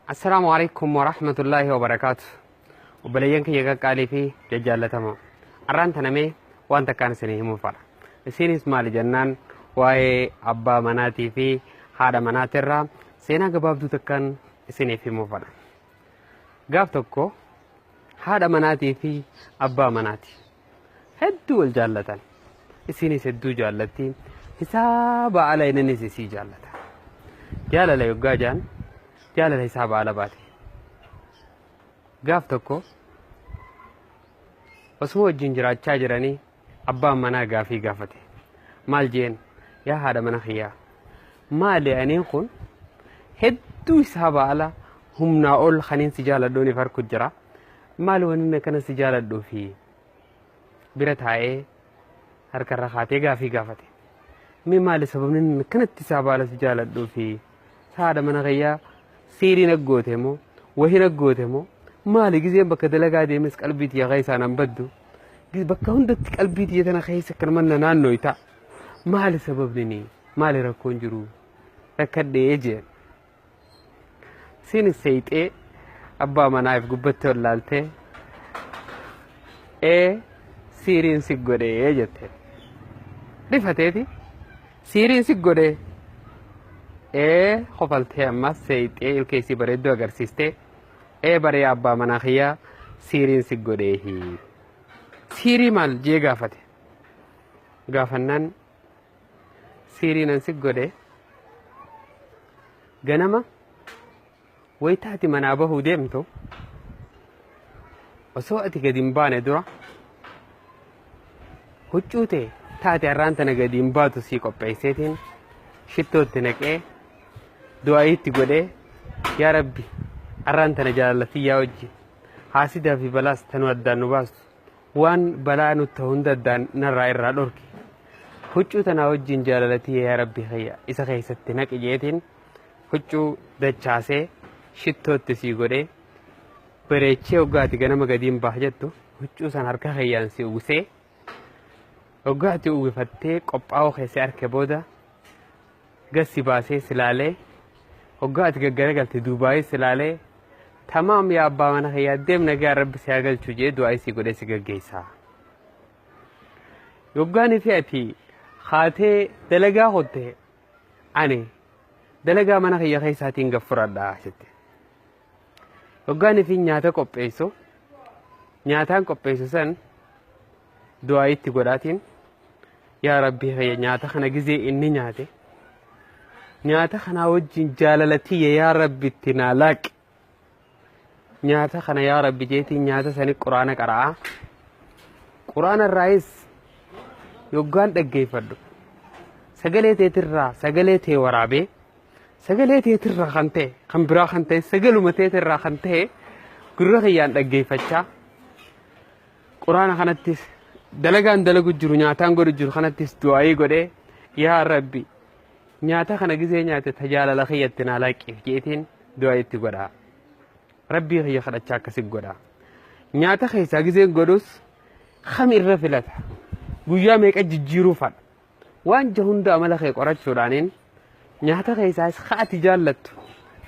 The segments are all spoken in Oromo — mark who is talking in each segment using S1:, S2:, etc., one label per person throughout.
S1: Assalaamu alaikum warahmatullaahi wabarakaatu. Obboleeyyan kiyya qaqqaalii fi jajjaallatamoo. Arraan tanamee waan takkaan isinii himuuf fedha. Isiinis maali jennaan waa'ee abbaa manaatii fi haadha manaatirraa seenaa gabaabduu takkaan isiniif himuuf fedha. Gaaf tokko haadha manaatii fi abbaa manaati. hedduu wal jaallatan isiinis hedduu jaallatti hisaaba ala inninis isii jaallata jaalala yoggaa jaan jaalala hisaaba ala baate gaaf tokko osuma wajjin jiraachaa jiranii abbaan manaa gaafii gaafate maal jeen yaa haadha mana kiyyaa maali aniin kun hedduu hisaaba ala humnaa ol kaniin si jaaladhuuniif harku jira maal wanni akkana si jaaladhuu fi bira taa'ee harkarra kaatee gaafii gaafate. Mee maali sababni inni akkanatti isaa baala si jaaladhuu fi saada mana kiyyaa siirii naggoote moo wahii naggoote moo maali gizeen bakka dalagaa deemes qalbii tiyya keessaan an baddu bakka hundatti qalbii tiyya tana keessa kan manna naannooyta maali sababni maali rakkoon jiru rakkadhee jeen. Siin hin seeyxee abbaa manaa if gubbattee ol laaltee ee siiriin si godhee jette. Rifateeti siiriin si godhee ee kofaltee ammas seeyxee ilkee isii bareedduu agarsiistee ee baree abbaa manaa kiyyaa siiriin si godhee hii. Siirii maal jee gaafate. Gaafannaan siirii nan si godhe ganama wayita ati manaa bahuu deemtu osoo ati gadi hin baane dura huccuu tee taate har'aan tana gadi hin baatu sii qopheesseetiin shittootti naqee du'aayiitti godhee yaa rabbi har'aan tana jaalallatiyyaa wajji haasidaa fi balaas tanuu addaan nu baastu Waan balaa nut ta hunda addaan narraa irraa dhorki. Huccuu tanaa wajjin jaalala tiyya yaa rabbi kiyya isa keessatti naqi jeetiin huccuu dachaasee shittootti sii godhee bareechee hoggaati ganama gadiin baah jettu huccuu san harka kiyyaan si uwwisee hoggaati uwwifattee qophaa'uu keessee arke booda gad si baasee si laalee hoggaa ati gaggaragalte duubaayee si laalee tamaam yaa abbaa mana kiyyaa deem nagaa rabbi si haa galchu jee du'aa isii godhee si gaggeessaa. Yoggaan fi ati haatee dalagaa hotte ani dalagaa mana kiyya keessaatiin gad fudhadha jette. Yoggaan fi nyaata qopheessu nyaataan qopheessu san du'aa itti godhaatiin yaa rabbii kiyya nyaata kana gizee inni nyaate nyaata kanaa wajjin jaalala tiyya yaa rabbi itti naa laaqi nyaata kana yaa rabbi jeetiin nyaata sani quraana qara'aa quraana irraayis yoggaan dhaggeeffadhu sagalee teetirraa sagalee tee waraabee sagalee teetirraa kan ta'e kan biraa kan ta'e sagaluma teetirraa kan ta'e gurra kiyyaan dhaggeeffachaa Quraana kanattis dalagaan dalagu jiru nyaataan godhu jiru kanattis du'aayii godhee yaa rabbi nyaata kana gizee nyaate tajaalala kiyyatti naa laaqqif jeetiin du'aayii itti godha. Rabbii kiyya kadhachaa akkasi godha. Nyaata keessaa gizee godhus kam irra filata. Guyyaa meeqa jijjiiruu fadha. Waan ja hunda amala kee qorachuudhaaniin nyaata keessaas kaati jaallattu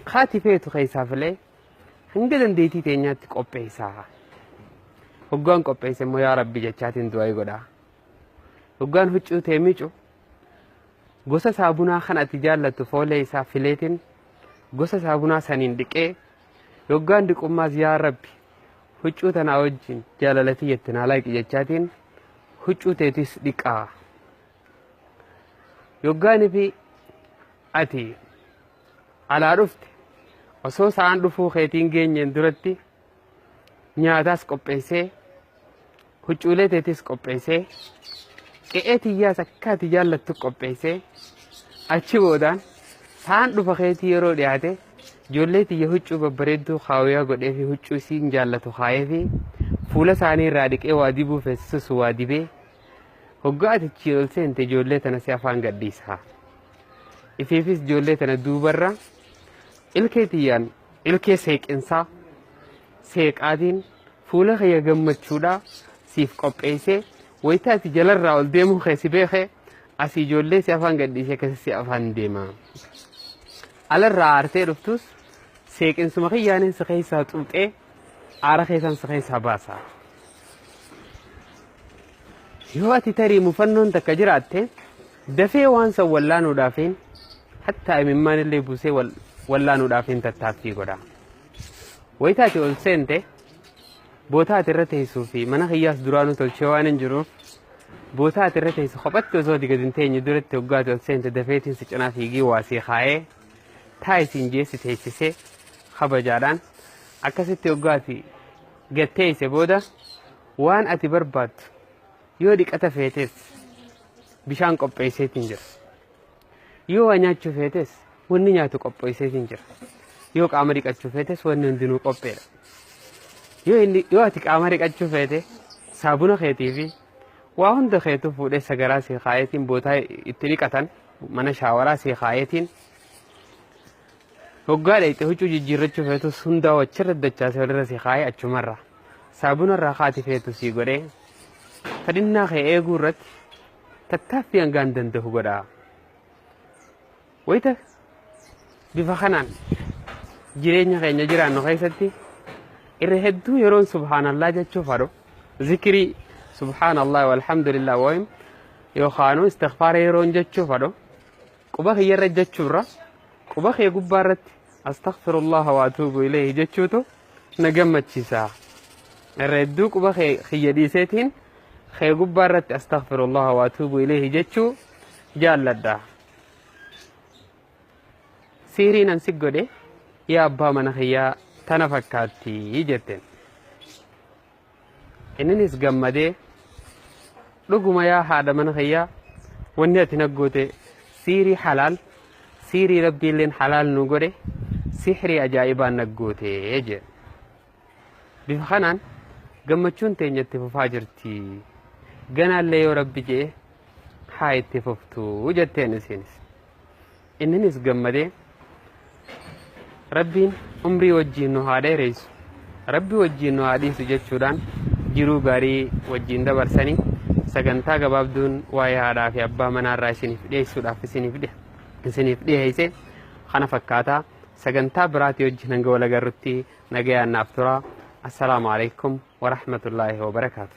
S1: kaati feetu keessaa filee Hanga dandeetii teenyaatti qopheessaa. Hoggaan qopheesse immoo yaa rabbi jechaatiin du'aa godhaa. Hoggaan huccuu tee miicu gosa saabunaa kan ati jaallattu foolee isaa fileetiin gosa saabunaa saniin dhiqee hoggaan dhiqummaas yaa rabbi huccuu tanaa wajjin jaalalatii jettin halaaqi jechaatiin huccuu teetis dhiqaa. Hoggaan fi ati alaa dhufte osoo sa'aan dhufuu keetiin geenyeen duratti nyaataas qopheessee huccuulee teetis qopheessee qe'ee tiyyaas akka ati jaallattu qopheessee achi boodaan sa'aan dhufa keetii yeroo dhiyaate ijoollee tiyya huccuu babbareedduu kaawuyaa godhee fi huccuu isiin jaallatu kaayee fi fuula isaanii irraa dhiqee waa dibuu feesisus waa dibee hoggaa ati achi ol seente ijoollee tana si afaan gadhiisa. Ifiifis ijoollee tana duubarra ilkee tiyyaan ilkee seeqinsaa seeqaatiin fuula kiyya gammachuudhaa siif qopheessee wayita ati jalarraa ol deemuu kee si beekee asii ijoollee si afaan gadhiisee keessa si afaan deema. Alarraa aartee dhuftus seeqinsuma kiyyaanin si keessaa xuuxee aara keessaan si keessaa baasa. Yoo ati tarii mufannoon takka jiraatte Dafee waan san wallaanuudhaafin hattaa imimmaan illee buusee wal- wallaanuudhaafin tattaaffii godha. Wayita ati ol seente bootaa ati irra teessuu fi mana kiyyaas duraanuu tolchee waan hin jiruuf bootaa ati irra teessu kophatti osoo ati gadi hin teenye duratti hoggaa ati ol seente dafeetiin si cinaa fiigii waa sii kaa'ee taa isiin jee si teessisee kabajaadhaan akkasitti hoggaa ati gad teesse booda waan ati barbaaddu Yoo dhiqata feetes bishaan qopheesseetiin jira. Yoo waa nyaachuu feetes wanni nyaatu qopheesseetiin jira. Yoo qaama dhiqachuu feetes wanni hundinuu qopheedha. Yoo inni yoo ati qaama dhiqachuu feete saabuna keetii fi waa hunda keetu fuudhee sagaraa sii kaayeetiin bootaa itti dhiqatan mana shaawaraa sii kaayeetiin Hoggaa dhayxe huccuu jijjiirrachuu feetus hundaa'u achirra dachaase walirra si kaa'ee achumarra saabuna irraa kaati feetu sii godhee fedhinnaa kee eeguu irratti tattaaffii hangaan danda'u godha. Wayita bifa kanaan jireenya keenya jiraannu keessatti irra hedduu yeroon subhaanallaa jechuuf haadhu zikirii subhaanallaa walhamdulillah wayim yookaanuu istikfaara yeroon jechuuf haadhu Quba kiyyarra ejjachuurra quba kee gubbaarratti astaghfirullaha wa atuubu ilayhi jechuutu na gammachiisa. Irra hedduu quba kee kiyya dhiiseetiin kee gubbaarratti astaghfirullaha wa atuubu ilayhi jechuu jaalladha. Sihrii nan si godhe yaa abbaa mana kiyyaa tana fakkaatti jetteen. Inninis gammadee dhuguma yaa haadha mana kiyyaa wanni ati naggoote siirii halaal siirii rabbiilleen halaal nu godhe sihrii ajaa'ibaan naggoote jee bifa kanaan gammachuun teenya itti fufaa jirti ganaallee yoo rabbi jee haa itti fuftu jetteen isiinis. Inninis gammadee Rabbiin umrii wajjiin nu haa dheereysu, Rabbi wajjiin nu haa dhiisu jechuudhaan jiruu gaarii wajjiin dabarsani. Sagantaa gabaabduun waa'ee haadhaa fi abbaa manaarraa isiniif dhiyeessuudhaaf isiniif dhi- isiniif dhiyeesse kana fakkaata. Sagantaa biraatii wajjin hanga wal agarrutti nagayaan naaf tura. Assalaamu alaikum wa rahmatullaahi wa barakaatu.